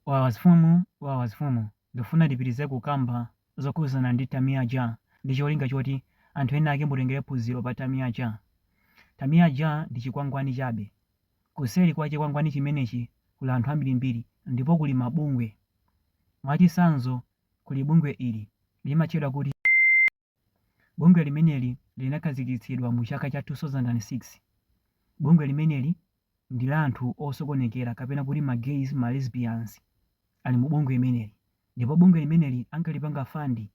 Walazfumu Walazfumu ndufuna ndipitirize kukamba zokhuzana ndi Tamia Ja ndicholinga choti anthu enaake mutengere phunziro pa Tamia Ja. Tamia Ja ndi chikwangwani chabe. Kuseri kwa chikwangwani chimenechi kuli anthu ambirimbiri ndipo kuli mabungwe. Mwachitsanzo kuli bungwe ili limatchedwa kuti. Bungwe limeneli linakhazikitsidwa mu chaka cha 2006. Bungwe limeneli ndi la anthu osokonekera kapena kuti ma gays, ma lesbians ali mu bungwe limeneli. Ndipo bungwe limeneli ankalipanga fund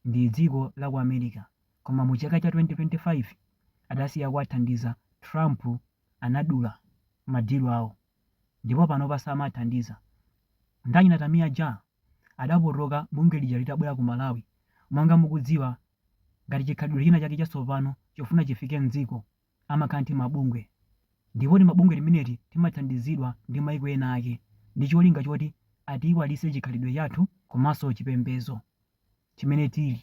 ndi dziko la ku America. Koma mu chaka cha 2025 adasiya kuwathandiza, Trump anadula ma deal awo ndipo panopa samawathandiza. Nde naye Tamia Ja. adapotoka bungwe lija litabwera ku Malawi. Monga mukudziwa, ngati chikhalidwe china chake chatsopano chofuna chifike m'dziko, amakhala ndi timabungwe. Ndipo timabungwe timeneti timathandizidwa ndi maiko ena ake ndi cholinga choti atiyiwalitse chikhalidwe chathu komanso chipembedzo chimene tili.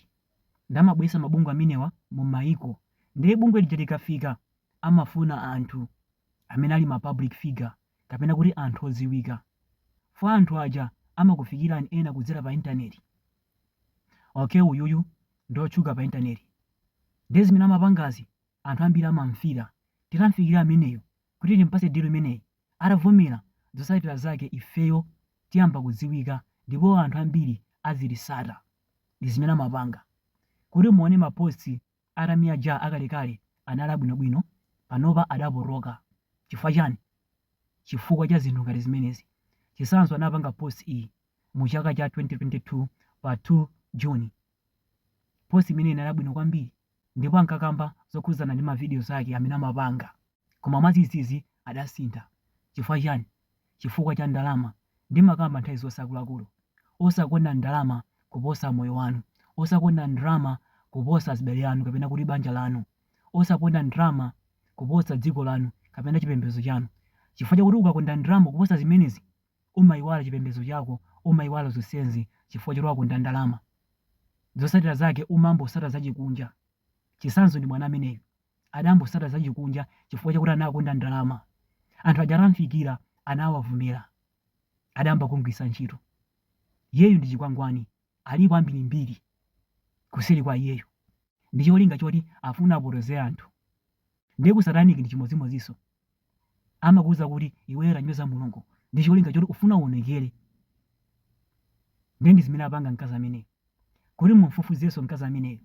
Nde amabweretsa mabungwe amenewa mu maiko. Nde bungwe lija likafika, amafuna anthu amene ali ma public figure. kapena kuti anthu odziwika for anthu aja amakufikirani ena kudzera pa intaneti ok uyuyu ndiotchuka pa intaneti ndiye zimene amapangazi anthu ambiri amamfila titamfikira ameneyu kuti timpatse deal imeneyi atavomera zotsatira zake ifeyo tiyamba kudziwika ndipo anthu ambiri azititsata ndizimene amapanga kuti muone ma posts a Tamia Ja akalekale anali abwinobwino panopa adapotoka chifukwa chani chifukwa cha zinthu ngati zimenezi chitsanzo anapanga post iyi mu chaka cha 2022 pa 2 June post imene inali yabwino kwambiri ndipo ankakamba zokhuzana ndi ma videos ake amene amapanga Koma mwadzidzidzi adasintha. Chifukwa chiyani? Chifukwa cha ndalama. Ndimakamba nthawi zonse akuluakulu, osakonda ndalama kuposa moyo wanu, osakonda ndalama kuposa azibale anu kapena kuti banja lanu, osakonda ndalama kuposa dziko lanu kapena chipembedzo chanu. Chifukwa chakuti ukakonda ndalama kuposa zimenezi, umaiwala chipembedzo chako, umaiwala zonsezi chifukwa choti wakonda ndalama. Zotsatira zake umangotsata zachikunja. Chitsanzo ndi mwana ameneyo. adangotsata zachikunja chifukwa chakuti anakonda ndalama. Anthu aja atamfikira anawavomera. Adayamba kumgwiritsa ntchito. Iyeyu ndi chikwangwani, alipo ambirimbiri kuseri kwa iyeyu ndi cholinga choti afuna apotoze anthu. Ndiye ku satanic ndi chimodzimodzinso. amakuuza kuti iweyo tanyoza Mulungu ndi cholinga choti ufuna uwonekere. Ndiye ndi zimene apanga mkazi ameneyu. Kuti mumfufuzenso mkazi ameneyu,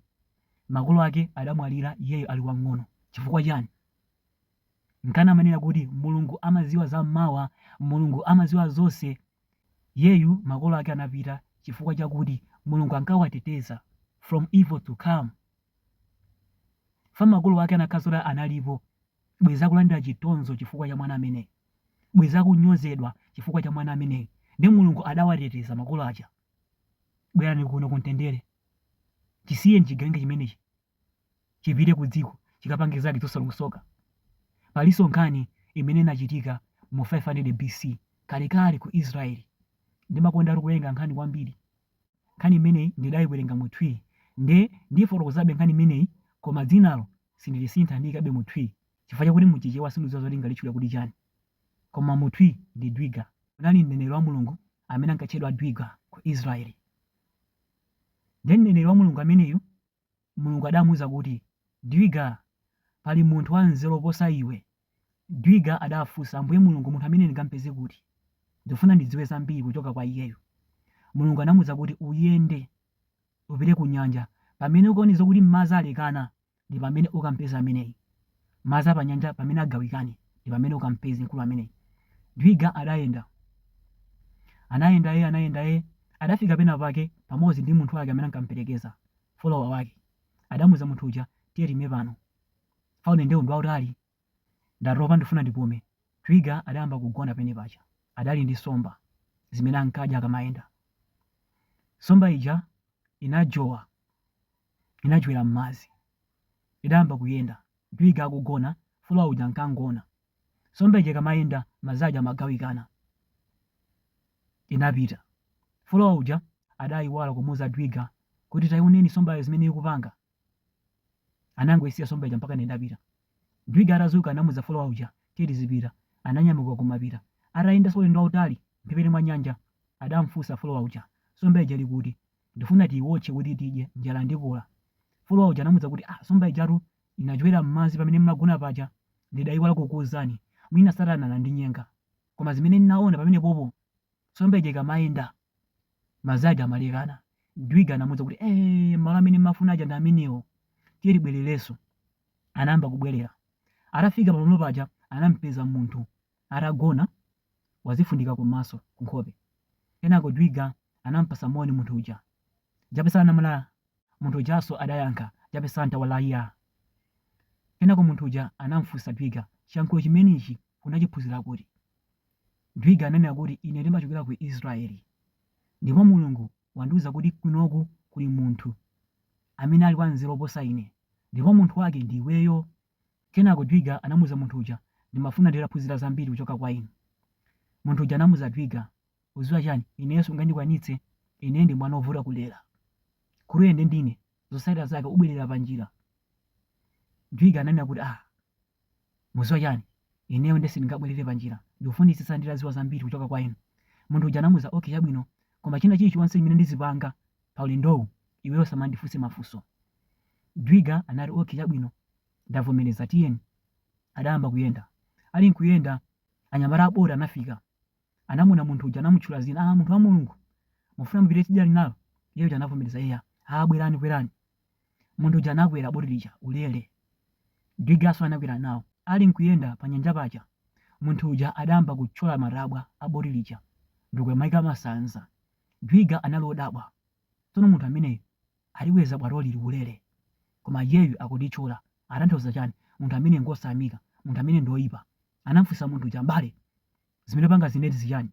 makolo ake adamwalira iyeyo ali wamng'ono. Chifukwa chani? Nkana amanena kuti Mulungu amadziwa za mmawa, Mulungu amadziwa zonse. Iyeyu makolo ake anapita chifukwa chakuti Mulungu ankawateteza from evil to come. Fa makolo ake anakhala zoti analipo, bwezi akulandira chitonzo chifukwa cha mwana ameneyi, bwezi akunyozedwa chifukwa cha mwana ameneyi nde Mulungu adawateteza makolo aja? Bwerani kuno ku mtendere chisiyeni chigawenga chimenechi chipite ku dziko chikapange zake zosalongsoka. Palinso nkhani imene inachitika mu 500 BC kalekale ku Israel. Ndimakondatu kuwerenga nkhani kwambiri. nkhani imeneyi ndidaiwerenga mu twi nde ndiifotokozabe nkhani imeneyi koma dzinalo sindilisintha ndiikabe mu twi chifukwa chakuti mu chichewa sindidziwa zoti ndingalitchule kuti chani koma mu twi ndi dwiga kunali mneneri wa mulungu amene ankatchedwa dwiga ku israeli nde mneneri wa mulungu ameneyu Mulungu adamuuza kuti, Dwiga! Pali munthu wanzeru oposa iwe? Dwiga adafunsa, Ambuye Mulungu, munthu ameneyu ndingampeze kuti? Ndikufuna ndidziwe zambiri kuchoka kwa iyeyu. Mulungu anamuuza kuti, Uyende, upite ku nyanja. Pamene ukaone zokuti madzi alekana, ndi pamene ukampeze ameneyu. Madzi a panyanja pamene agawikane, ndi pamene ukampeze mkulu ameneyi. Dwiga adayenda. Anayenda ee, anayenda ee, adafika pena pake pamodzi ndi munthu wake amene ankamperekeza, follower wake. Adamuuza munthu uja, tiye tiime pano. Fa ulendowu ndi wautali. Ndatopa ndifuna ndipume. Dwiga adayamba kugona pene paja. Adali ndi nsomba zimene ankadya akamayenda. Nsomba ija inajowa. inajowera m'madzi. Idayamba kuyenda. Dwiga akugona, follower uja ankangoona. Nsomba ija ikamayenda, madzi aja amagawikana. Inapita. Follower uja adayiwala kumuuza Dwiga kuti tayioneni nsombayo zimene ikupanga. Anangoyisiya nsomba ija mpaka nde idapita. Dwiga atadzuka anamuuza follower uja tiye tizipita. Ananyamuka kumapita. Atayendanso ulendo wautali mphepete mwa nyanja, adamfunsa follower uja, nsomba ija ili kuti? Ndifuna tiiwotche kuti tidye, njala ndikula. Follower uja anamuuza kuti, Ah, nsomba ijatu inajowera m'madzi pamene m'magona paja. Ndidaiwala kukuuzani. Mwina Satana anandinyenga. Koma zimene ndinaona pamenepopo, nsomba ija ikamayenda, madzi aja amalekana. Dwiga anamuuza kuti, Eee, malo amene m'mafuna aja ndi amenewo. Tiye tibwererenso. Anayamba kubwerera. Atafika pamalo paja, anamupeza munthu. Atagona, wazifundika kumaso, kunkhope. Kenako Dwiga anamupatsa moni munthu uja. Jape sana mla? Munthu ujanso adayankha, Jape santa wallahiya. Kenako munthu uja anamufunsa Dwiga, Chiyankhulo chimenechi unachiphunzira kuti? Dwiga ananena kuti, Ine ndimachokera ku Israel. Ndipo Mulungu wandiuza kuti kunoku kuli munthu amene ali wanzeru oposa ine. Ndipo munthu wake ndi iweyo. Kenako Dwiga anamuza munthu uja, ndimafuna nditaphunzira zambiri kuchoka kwa inu. Munthu uja anamuza Dwiga, uziwa chani, ineyo sungandikwanitse, ine ndi mwana ovuta kulera. Nkholokolo nde ndine, zosatira zake ubwelera pa njira. Dwiga ananena kuti ah, muziwa chani, ineyo nde sindingabwelere pa njira, ndikufunitsitsa nditaziwa zambiri kuchoka kwa inu. Munthu uja anamuza, okay chabwino, koma china chilichonse chimene ndizipanga pa ulendowu, iweyo usamandifunse mafunso. Dwiga anati okay chabwino. Ndavomeleza tiyeni. Adayamba kuyenda. Ali nkuyenda anyamata a boti anafika. Anamuona munthu uja anamutchula zina, aah munthu wa Mulungu mufuna mupite tsidya linalo? Iye uja anavomeleza eya. Aah bwelani kwelani. Munthu uja anakwela boti lija ulele. Dwiganso anakwela nawo. Ali nkuyenda pa nyanja paja munthu uja adayamba kuthyola matabwa a boti lija ndikumayika masanza. Dwiga anali odabwa tsono munthu ameneyu wakwera bwato ili ulele koma iyeyu akulithyola atanthauza chani munthu ameneyi ngosayamika munthu ameneyi ndi oipa anamfunsa munthu uja m'bale zimene upangazi nde ndi zichani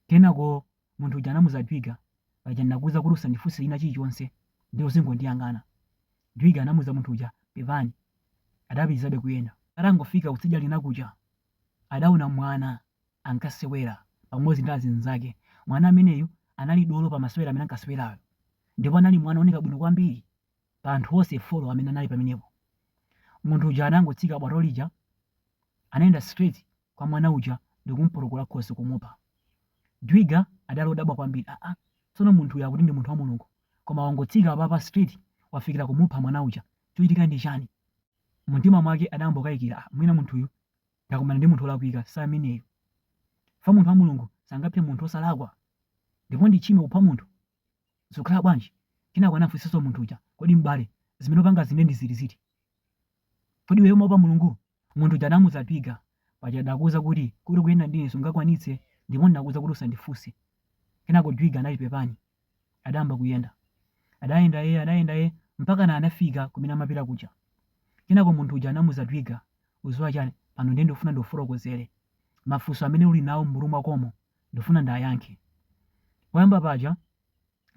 kenako munthu uja anamuza dwiga paja ndinakuuza kuti usandifunse china chilichonse nde uzingondiyang'ana dwiga anamuza munthu uja pepani adapitilizabe kuyenda atangofika kutsidya linakuja adaona mwana ankasewera pamodzi ndi azinzake. Mwana ameneyu anali dolo pa masewera amene ankasewerayo ndipo anali mwana wooneka bwino kwambiri pa anthu onse folo amene anali pamenepo. Munthu uja anangotsika bwato lija, anayenda straight kwa mwana uja ndi kumupotokola khosi kumupha. Dwiga adali odabwa kwambiri, aa, tsono munthu uyu akuti ndi munthu wa Mulungu koma wangotsika apapa straight wafikira kumupha mwana uja, chochitika ndi chani? Mumtima mwake adayamba kukayikira, aa, mwina munthuyu Ndakumana ndi munthu wolakwika si ameneyu. Chifukwa munthu wa Mulungu sangaphe munthu wosalakwa. Ndipo ndi tchimo kupha munthu. Zikukhala bwanji? Kenako anafunsanso munthu uja, Kodi m'bale, zimene upangazi nde ndi ziti? Kodi iweyo umaopa Mulungu? Munthu uja anamuuza Dwiga, Paja ndakuuza kuti kuyenda ndi ine sungakwanitse ndipo ndinakuuza kuti usandifunse. Kenako Dwiga anati Pepani. adayamba kuyenda. Adayenda ee, adayenda ee, mpakana anafika kumene amapita kuja. Kenako munthu uja anamuuza Dwiga, uziwa chani, pano ndiye ndikufuna ndikufotokozele. Mafunso amene uli nawo m'mutu mwakomo ndifuna ndayankhe. Poyamba paja,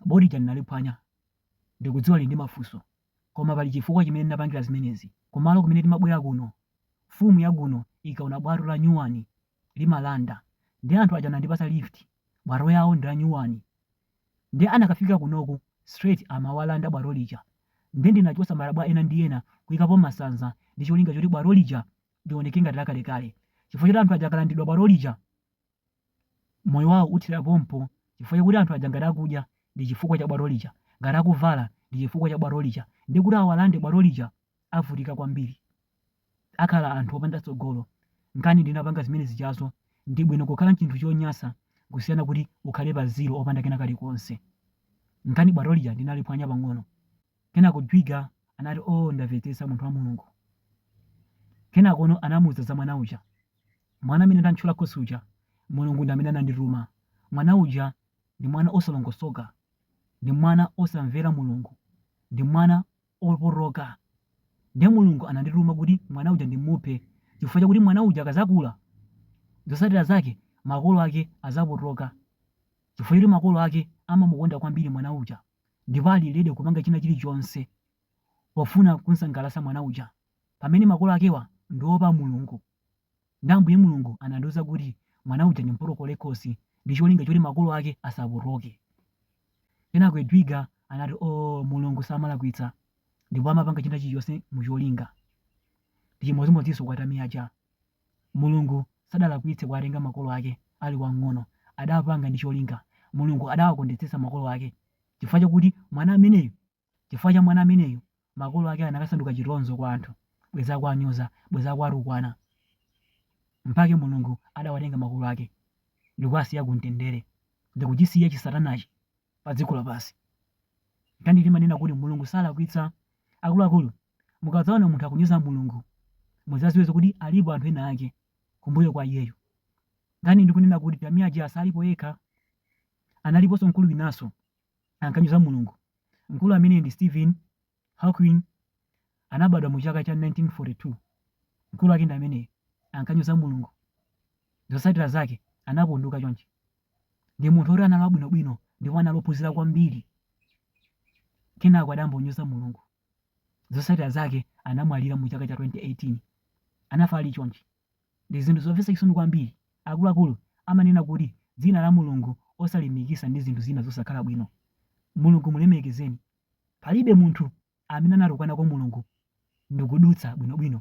bwato lija ndinaliphwanya. Ndikudziwa uli ndi mafunso. Koma pali chifukwa chimene ndinapangila zimenezi. Kumalo kumene timabwela kuno, mfumu ya kuno ikaona bwato la nyuwani limalanda nde anthu aja anandipasa lift bwato lawo ndi lanyuwani nde akanafika kunoku straight amawalanda bwato lija nde ndinachosa matabwa ena ndi ena kuyikapo masanza ndi cholinga choti bwato lija lioneke ngati lakalekale chifukwa choti anthu aja akalandidwa bwato lija moyo wawo uthera pompo chifukwa chakuti anthu aja ngati akudya ndi chifukwa cha bwato lija ngati akuvala ndi chifukwa cha bwato lija nde kuti awalande bwato lija avutika kwambiri akhala anthu opanda tsogolo nkana ndinapanga zimene zijazo ndibwino kukhala nchinthu chonyasa kusiyana kuti ukhale pa zero opanda kena kalikonse nkana bwato lija ndinaliphwanya pang'ono kenako dwiga anati oo ndamvetsetsa munthu wa mulungu kenakono anamuuza za mwana uja mwana amene ndantchola khosi uja mulungu ndi amene anandituma mwana uja ndi mwana osalongosoka ndi mwana osamvera mulungu ndi mwana opotoka. Ndiye Mulungu anandituma kuti mwana uja ndimuphe chifukwa chakuti mwana uja akazakula, zosatira zake makolo ake azapotoka chifukwa choti makolo ake amamukonda kwambiri mwana uja ndipo ali ready kupanga china chilichonse pofuna kunsangalasa mwana uja pamene makolo akewa ndiopa Mulungu. Nde Ambuye Mulungu anandiuza kuti mwana uja ndimpotokole khosi ndicholinga choti makolo ake asapotoke. Kenako Dwiga anati ooh Mulungu samalakwitsa ndipo amapanga china chilichonse mucholinga. Ndichimodzimodzinso kwa Tamia Ja. Mulungu sadalakwitse kuwatenga makolo ake ali wamng'ono, adapanga ndi cholinga. Mulungu adawakondetsetsa makolo ake chifukwa chakuti mwana ameneyo Chifukwa cha mwana ameneyo, makolo ake anakasanduka chitonzo kwa anthu, bwenzi akuwanyoza, bwenzi akuwatukwana. Mpake Mulungu adawatenga makolo ake ndikuwasiya kumtendere, ndikuchisiya chisatanachi padziko lapansi. Nkana timanena kuti Mulungu salakwitsa. Akuluakulu, mukadzaona munthu akunyoza Mulungu, mudzadziwe kuti alipo anthu ena ake kumbuyo kwa iyeyo. Nkana ndikunena kuti Tamia Ja salipo yekha, analiponso mkulu winanso. ankanyoza Mulungu. Mkulu ameneyu ndi Stephen Hawking anabadwa mu chaka cha 1942. Mkulu wake ndi ameneyo ankanyoza Mulungu. Zotsatira zake anapunduka chonchi. Ndi munthu oti anali wabwinobwino ndipo anali ophunzira kwambiri. Kenako adayamba kunyoza Mulungu. Zotsatira zake anamwalira mu chaka cha 2018. Anafa ali chonchi. Ndi zinthu zomvetsa chisoni kwambiri, akuluakulu amanena kuti dzina la Mulungu osalimikisa ndi zinthu zina zosakhala bwino. Mulungu mulemekezeni. Palibe munthu amene anatukwana kwa Mulungu ndikudutsa bwinobwino.